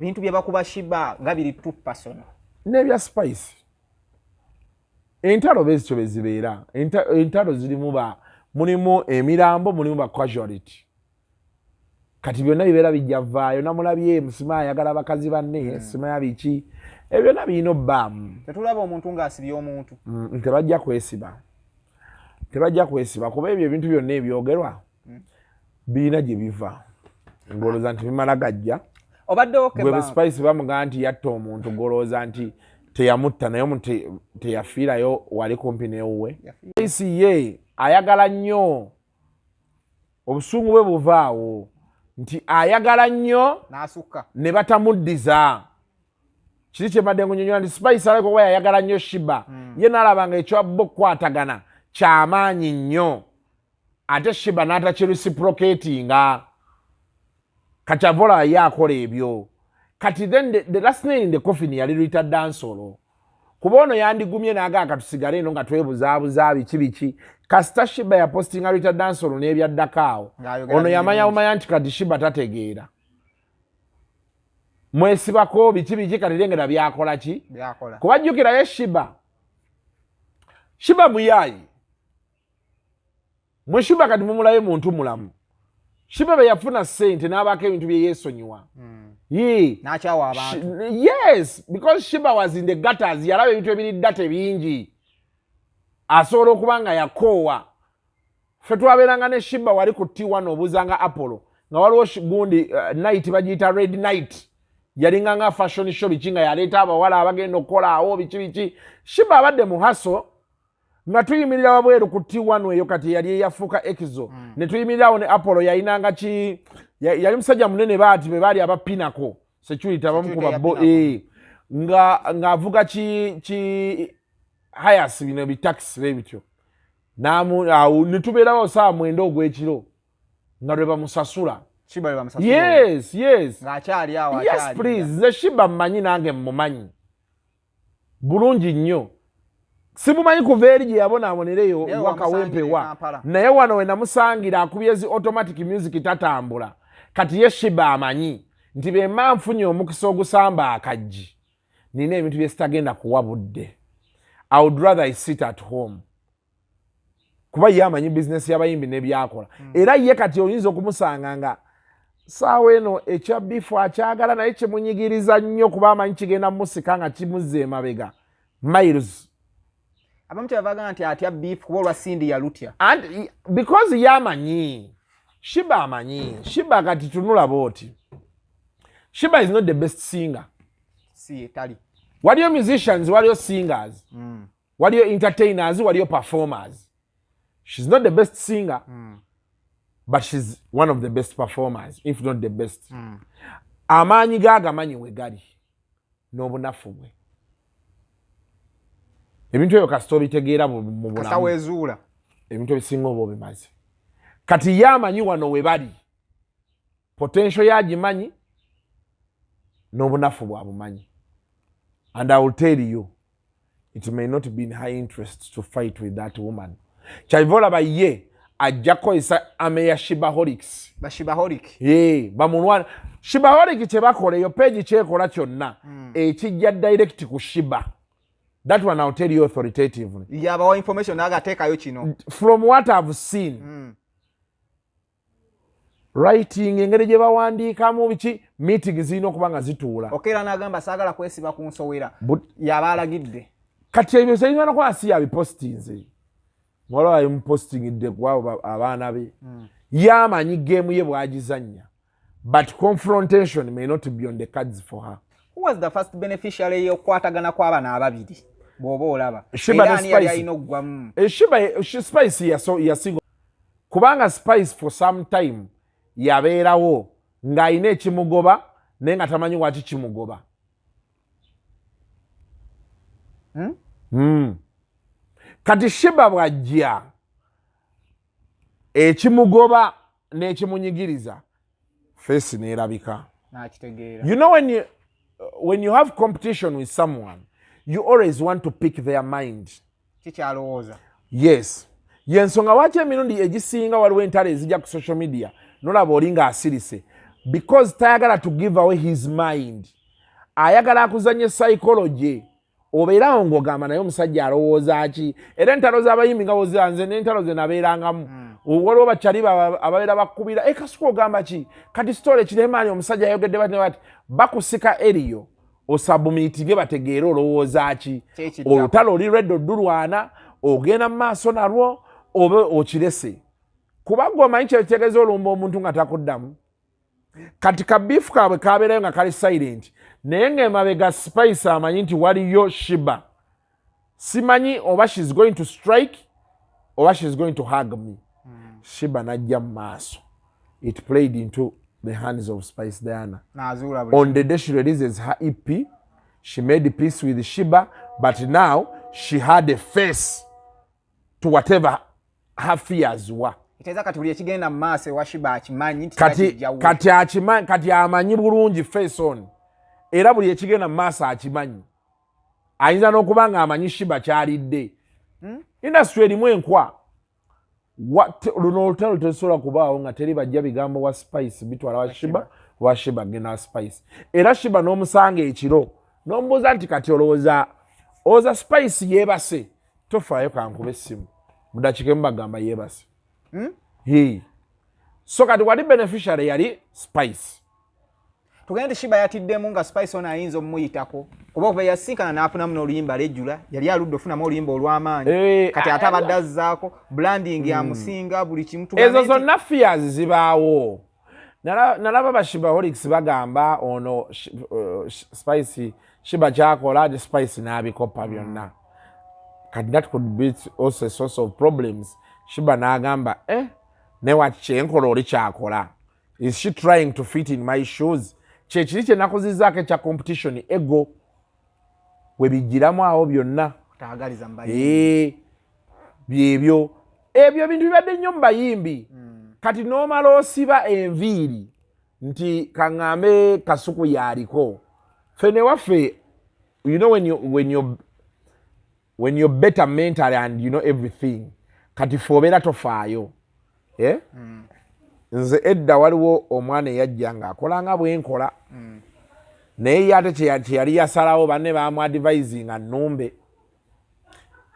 bintu byebakuba shiba nga biri tu personal nebya spice entalo bezikyo bezibeera entalo zirimu ba mulimu emirambo mulimu ba casuality kati byonna bibeera bijja vaayo namulabye musima ayagala bakazi banne hmm. simaya biki ebyo byonna birina obbaamu tetulaba omuntu ngaasibye omuntu hmm, tebajja kwesiba tebajja kwesiba kuba ebyo ebintu byonna ebyogerwa birina gye biva ngolooza nti bimala gajja obaddewoebespice bamugaa nti yatta omuntu golooza nti teyamutta naye omuntu teyafiirayo wali kumpi newuwe spice ye ayagala nnyo obusungu bwe buvaawo nti ayagala nnyo ne batamuddiza kiri kyembadde ngunyonyola nti spice alabika oba yayagala nnyo shiba hmm. ye naalaba nga ekyabba okukwatagana kyamaanyi nnyo ate shiba n'atakirisiproketinga kakyavola ye akola ebyo kati then the, the last nail in the coffin yali rita dansolo kuba ono yandigumye nagaa katusigale eno nga twebuzaabuza biki biki kasita shiba yapostinga rita dansolo n'ebyaddako awo ono yamanya bumanya nti kati shiba tategeera mwesibako biki biki kati lengera byakola ki kuba jjukirayo shiba shiba muyaayi mwe shiba kati mumulayo muntu mulamu shiba bwe yafuna sente n'abaako ebintu bye yeesonyiwa hmm. yes because shiba was in the gutters yalaba ebintu ebiri data ebingi asobola okuba nga yakoowa fe twabeeranga ne shiba wali ku t1 obuuzanga apollo nga waliwo gundi uh, night bagiyita red night yalinga nga fashion show biki nga yaleeta abawala abagenda okukolaawo biki biki shiba abadde muhaso nga tuyimirira wabweru ku t one eyo kati eyali eyafuuka ekizo mm. ne tuyimirirawo ne apollo yalinanga ki yali musajja munene baati be baali aba pinako security abamukuba bo eh. nga ng'avuga ki ki hayas bino bitakisi be bityo namu awo ne tubeerawo saa mwenda ogw'ekiro nga lwe bamusasula yes yes yes please nze shiba mmanyi nange mmumanyi bulungi nnyo simumanyi kuva eri gye yabonaabonera eyo wakawempewa naye wano we namusangira akubye zi automatic music tatambula kati ye shiba amanyi nti bemba nfunye omukisa ogusamba akajji nina ebintu byesitagenda kuwa budde i would rather i sit at home kuba ye amanyi bizinesi y'abayimbi n'ebyakola hmm. era ye kati oyinza okumusanga nga saawa eno ekya bifu akyagala naye kimunyigiriza nnyo kuba amanyi kigenda mumusika nga kimuzza emabega miles abamu kyebabaga nti atya bifu kuba olwa sindi yalutya because ye amanyi shiba amanyi shiba kati tunula booti shiba is not the best singer si etali waliyo musicians waliyo singers mm. waliyo entertainers waliyo performers she's not the best singer mm. but she's one of the best performers if not the best mm. amaanyi ge agamanyi we gali n'obunafu bwe ebintu ebyo kasita obitegeera mu bulamuwezuula ebintu ebisinga oba obimaze kati ye amanyi wano we bali potential ye agimanyi n'obunafu bwabumanyi and i will tell you it may not be in high interest to fight with that woman kyaiva olaba ye ajja kukozesa ame ya shibaholics bamulwana shibaholic kyebakola eyo peegi kyekola kyonna hmm. ekijja direct ku shiba that one i'll tell you authoritatively yabawa information naga atekayo kino from what i've seen mm. writing engeri gye bawandiikamu biki meeting zirina okuba nga zituula okeera n'agamba saagala kwesiba ku nsowera yaba alagidde kati ebyo zirina nokuba si yabipositinze muwala waye mupositingidde kuabo abaana be hmm. yamanyi geemu ye bwagizannya but confrontation may not be on the cards for her who was the first beneficiary yokukwatagana kw'abana ababiri bw'oba olaba era ani yali alina okuggwamu eshiba eh, spice yasinga kubanga spice for some time yabeerawo ng'alina ekimugoba naye nga tamanyi waki kimugoba hmm? Hmm. kati shiba bwajja ekimugoba n'ekimunyigiriza face nelabika nakitegeera you know when you, when you have competition with someone you always want to pick their mind kikyalowooza yes yensonga waki emirundi egisinga waliwo entalo ezija ku social media nolaba oli nga asirise because tayagala to give away his mind ayagala akuzanye psychology obeera awo ng'ogamba naye omusajja alowooza ki era entalo z'abayimbi nga bozira nze n'entalo ze nabeerangamu hmm. waliwo bakyali ababeera bakubira ekasuka eh, ogamba ki kati sitole kiremaani omusajja ayogedde bati bati bakusika eriyo osabumiitinge bategeere olowooza ki olutalo oli lwedda oddulwana ogenda mu maaso nalwo oba okirese kuba gwe omanyi kyekitegeeza olumba omuntu nga takuddamu kati kabifu kaabwe kabeerayo nga kali silent naye ngaemabega spice amanyi nti waliyo shiba simanyi oba shes going to strike oba shes going to hug me hmm. shiba najja mu maaso it played into the hands of spice diana on the day she releases her ep she made peace with shiba but now she had a face to whatever hafiyaziwa kiteeza kati buli ekigenda mu maaso ewashiba akimanyi nti kati, kati, akimanyi, kati amanyi bulungi fason era buli ekigenda mu maaso akimanyi ayinza n'okuba nga amanyi shiba kyalidde hmm? indasitry erimu enkwa luno olutalo tesobola kubaawo nga teri bajja bigambo wa spice bitwala washiba washiba genda wa spice era shiba n'omusanga ekiro n'omubuuza nti kati olowooza oza spice yeebase tofaayo kankuba essimu mudakika emu bagamba yebase hmm? hi so kati wali beneficiary yali spice tugende shiba yatiddemu nga spice ono ayinza omumuyitako kuba okuva yasinkana nafunamu noluyimba lejula yali aludde ofunamu oluyimba olwamaanyi eh, kati ate abadde azzaako branding hmm. amusinga buli kimu ezo zonna fears zibaawo nalaba bashibaholics bagamba ono uh, spice shiba kyakola ate spice n'abikopa mm. byonna kati that could be also a source of problems shiba n'agamba eh newati kyenkola oli kyakola is she trying to fit in my shoes kyekiri kyenakuzizaako ekya competition ego webijjiramu awo byonna eh, byebyo ebyo ebintu bibadde nnyo mu bayimbi hmm. kati n'omala osiba enviiri nti kaŋŋambe kasuku yaaliko ffe newaffe you know when you, when you when you're better mentally and you know everything kati fe obeera tofaayo eh? mm. nze edda waliwo omwana eyajja ngaakola nga bwenkola mm. naye ye ate kyeyali yasalawo banne bamuadivisinga numbe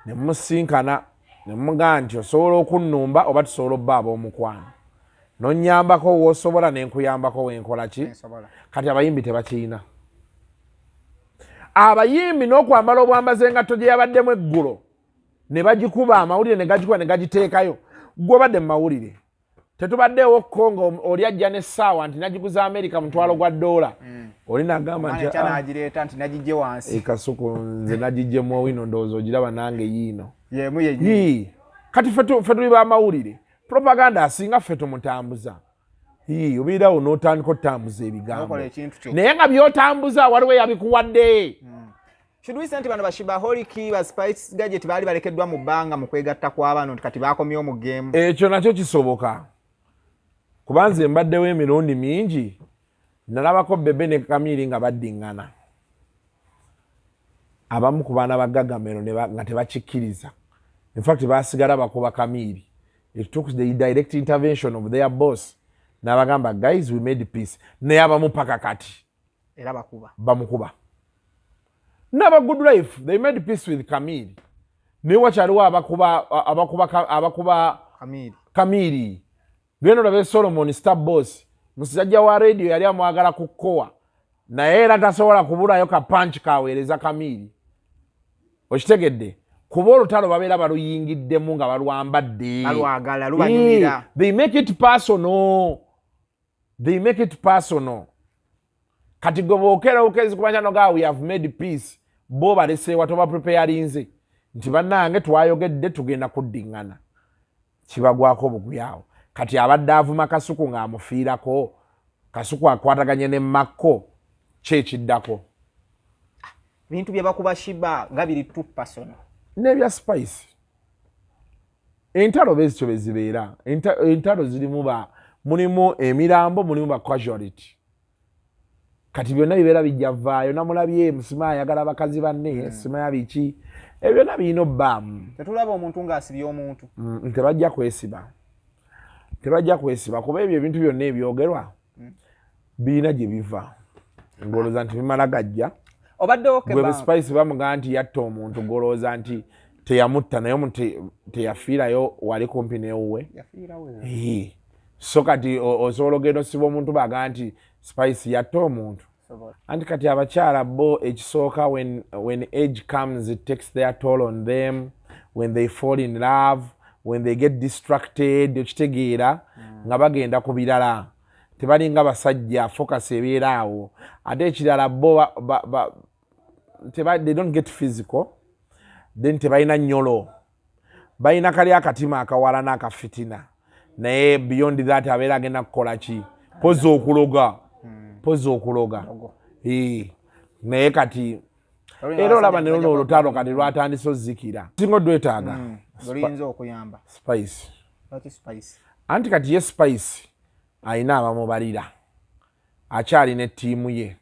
nemusinkana nemugaa nti osobola okunnumba oba tusobola obba ab'omukwano nonyambako wosobola nenkuyambako wenkolaki kati abayimbi tebakiyina abayimbi n'okwambala obwambaza engatto gye yabaddemu eggulo ne bagikuba amawulire ne gagikuba ne gagiteekayo gwobadde mu mawulire tetubaddeewo ko nga oli ajja n'essaawa nti nagiguza amerika mutwalo gwa doola mm. oli nagamba ntiekasuku ah, nze nagijjemu owino ndowooza ogiraba nange yiino kati fe tuli bamawulire propaganda asinga ffe tumutambuza obeera awo n'otandika otambuza ebigambo naye nga byotambuza waliwo yabikuwadde hmm. kiduise nti bano bashibaholiki baspice gadget baali balekeddwa mu bbanga mu kwegatta kw'abaano nti kati baakomye omugeemu ekyo nakyo kisoboka kuba nze mbaddewo emirundi mingi nalabako bebe ne kamiiri nga baddingana abamu ku baana ba gagamero nga tebakikkiriza infact basigala bakuba kamiiri it took the direct intervention of their boss nabagamba guys we made peace naye abamu paka kati era bakuba bamukuba naba good life they made peace with kamiiri naye wakyaliwo abakuba abakuba abakuba kamiiri genda olabe solomon star boss musajja wa radio yali amwagala ku kowa naye era tasobola kubulayo ka panch kaweereza kamiiri okitegedde kuba olutalo babeera baluyingiddemu nga balwambadde they make it personal they make it personal kati gwe bwokera okezi kuba kyano ga we have made peace bo baleseewa toba preparinze nti bannange twayogedde tugenda kuddiŋŋana kibagwako obugubi awo kati abadde avuma kasuku ng'amufiirako kasuku akwataganye ne makko ki ekiddako bintu byebakuba shiba nga biri tupasono nebya spice entalo bezityo bezibeera entalo zirimu ba mulimu emirambo mulimu ba casuality kati byonna bibeera bijja vaayo namulabye musima ayagala bakazi banne hmm. simaya biki ebyo byonna birina obbaamu tetulaba omuntu ngaasibye omuntu mm, tebajja kwesiba tebajja kwesiba kuba ebyo ebintu byonna ebyogerwa birina gye biva ngolooza nti bimala gajja obaddewoebespice bamugamba nti yatta omuntu golooza nti teyamutta naye omuntu teyafiirayo wali kumpi newuwe so kati osobola ogenda osiba omuntu baga nti spice yatta omuntu anti kati abakyala bo ekisooka when age comes it takes their toll on them when they fall in love when they get distracted okitegeera mm. nga bagenda ku birala tebalinga basajja focus ebeera awo ate ekirala bo they don't get physical then tebalina nyolo balina kali akatima akawala n'akafitina naye beyond that abeera agenda kukola ki pozi okuloga pozi okuloga naye kati era olaba ne luno olutalo kati lwatandise ozikira singa odwetaaga hmm, oluyinza okuyamba spice anti kati ye spice alina abamubalira akyalina ettiimu ye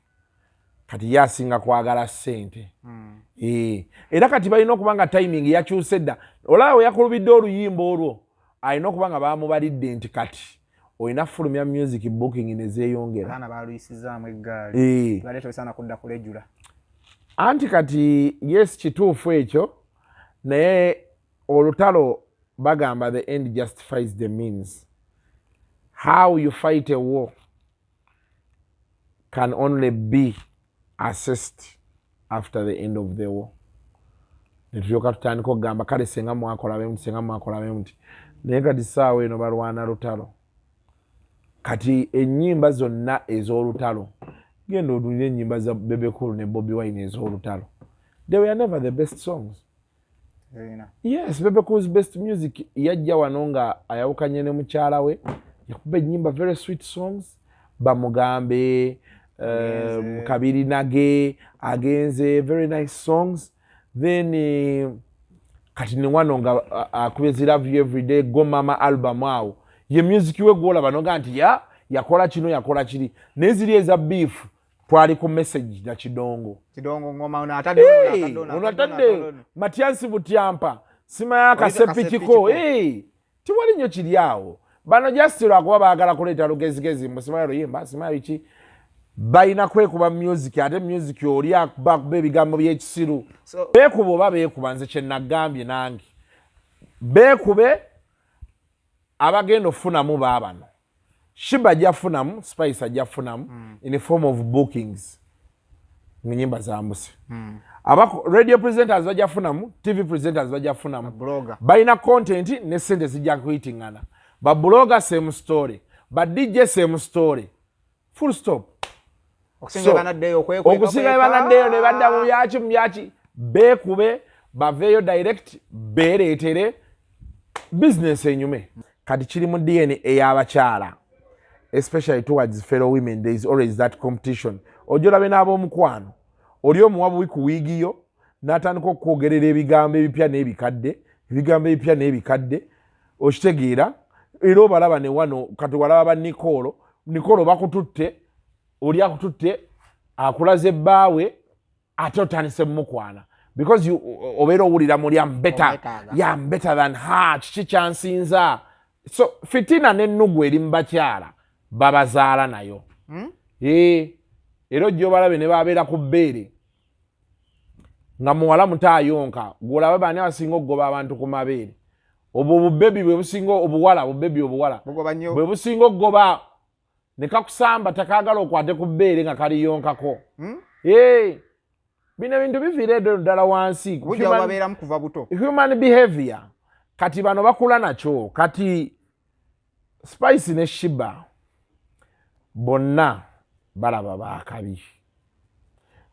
kati ye asinga kwagala ssente hmm. eh, era kati balina okuba nga timing yakyuse dda olaba we yakulubidde oluyimba olwo alina okuba nga bamubalidde nti kati olina fulumya music booking nezeyongera abaana baluyisizaamu eggaali eh. bale tosaana kudda kulejula anti kati yes kituufu ekyo naye olutalo bagamba the end justifies the means how you fight a war can only be assist after the end of the war netulyoka tutandika okugamba kale senga mwakolabemuti senga mwakolabemuti naye kati saawa eno balwana lutalo kati enyimba zonna ez'olutalo genda odulira enyimba za bebekulu ne bobi wine ez'olutalo they were never the best songs yes bebe cools best music yajja wano nga ayawukanye ne mukyala we yakuba enyimba very sweet songs bamugambe um, kabiri nage agenze very nice songs then eh, kati ni wano nga akuba ezi love you everyday go mama album awo ye music we gwolaba noga nti ya yakola kino yakola kiri naye ziri eza beef twali ku message na kidongo kidongo ngoma una atadde una atadde matiansi butyampa sima ya kasepi kiko eh tiwali nyo kiliao bano just lwa kuba bagala kuleta lugezi gezi musima yero yimba sima yichi bayina kwe kuba music ate music oli akuba kuba ebigambo byekisiru so, bekuba oba bekuba nze kye nagambye nange bekube abagenda okufunamu baabano shiba ajja kufunamu spice ajja kufunamu mm. in the form of bookings mu nyimba zambuse mm. aba radio presenters bajja kufunamu tv presenters bajja kufunamu balina content ne sente zijja kuyitingana babuloga same story ba dj same story full stop okusinga banaddeyo okwekweka okusinga banaddeyo ne badda mu byaki mu byaki beekube baveeyo direct beereetere bizinesi enyume kati kiri mu dna ey'abakyala especially towards fellow women there is always that competition ojo olabe n'ab'omukwano oli omuwa buwi ku wiigi yo n'atandika okukwogerera ebigambo ebipya n'ebikadde ebigambo ebipya n'ebikadde okitegeera era obalaba ne wano kati walaba ba nikoolo nikoolo bakututte oli akututte akulaze bbaawe ate otandise mumukwana because obeera owulira muli ambeta yambeta than ha kiki kyansinza so fitina nennugu eri mubakyala babazaala nayo hmm? era ojja obalabe ne babeera ku bbeere nga muwala muto ayonka gwolaba baani abasinga okugoba abantu ku mabeere obwo obubebi bwebusinga obuwala obubebi obuwala bwebusinga okugoba nekakusamba takagala okwate ku bbeere nga kaliyonkako hmm? bino ebintu biviira edo ddala wansi human behavior kati bano bakula nakyo kati spice ne shiba bonna balaba bakabi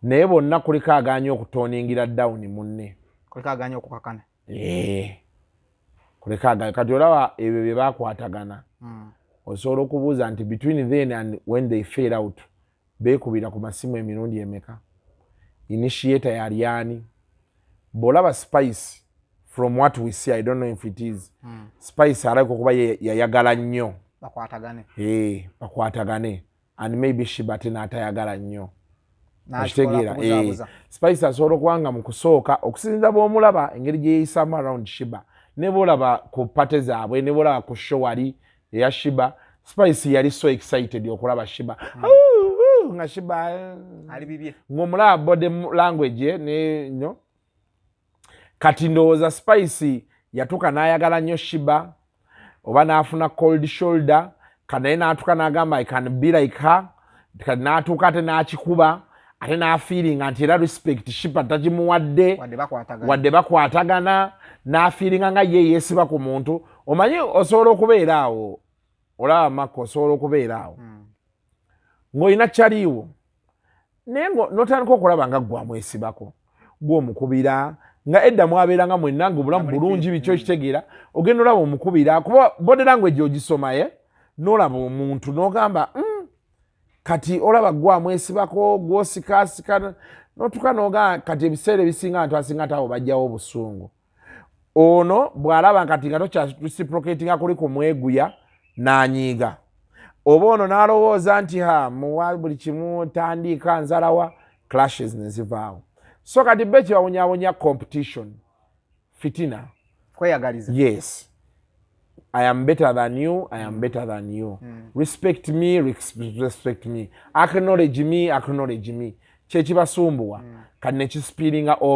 naye bonna kuliko aganye okutoningira down munne kuliko aganye okukakana eh. kuliko aganye kati olaba ebyo bye bakwatagana hmm. osobola okubuuza nti between then and when they fail out Beekubira ku masimu emirundi emeka? Initiator yali ani? Bw'olaba Spice from what we see, I don't know if it is, hmm. Spice alabika okuba yayagala nnyo bakwatagane eh, bakwatagane and maybe shibate n'atayagala nnyo akitegeera eh, spice asobola okuba nga mu kusooka okusinza bw'omulaba engeri gye yeeyisaamu around shiba ne bwolaba ku pate zaabwe ne bwolaba ku show wali eya shiba spice yali so excited okulaba shiba hmm. nga shiba eh. ngomulaba body language eh, nenyo kati ndowooza spice yatuka nayagala nyo shiba oba nafuna cold shoulder kanaye natuka nagamba i can be like her kati n'atuuka ate n'akikuba ate n'afiiringa nti era respect shipa tagimuwadde wadde bakwatagana n'afiiringa nga ye yeesiba ku muntu omanyi osobola okubeera awo olaba makka osobola okubeera awo hmm. ng'olina kyaliiwo naye notandika okulaba nga gwamwesibako gwe omukubira nga edda mwabeeranga mwenna nga obulamu bulungi biki okitegeera ogenda olaba omukubira kuba body language ogisoma ye nolaba omuntu nogamba hmm, kati olaba gwe amwesibako gwosikaasika notuka nogamba kati ebiseera ebisinga abantu asinga taabo bajjawo obusungu ono bw'alaba nkati nga tokyaprociprocatinga kuli ku mweguya n'anyiiga oba ono n'alowooza nti ha muwa buli kimu tandiika nzalawa clashes ne zivaawo so kati be kibawonyawonya competition fitina kweyagaliza yes i am better than you i am better than you mm. respect me respect me acknowledge me acknowledge me kyekibasumbuwa mm. kati nekisipiringa over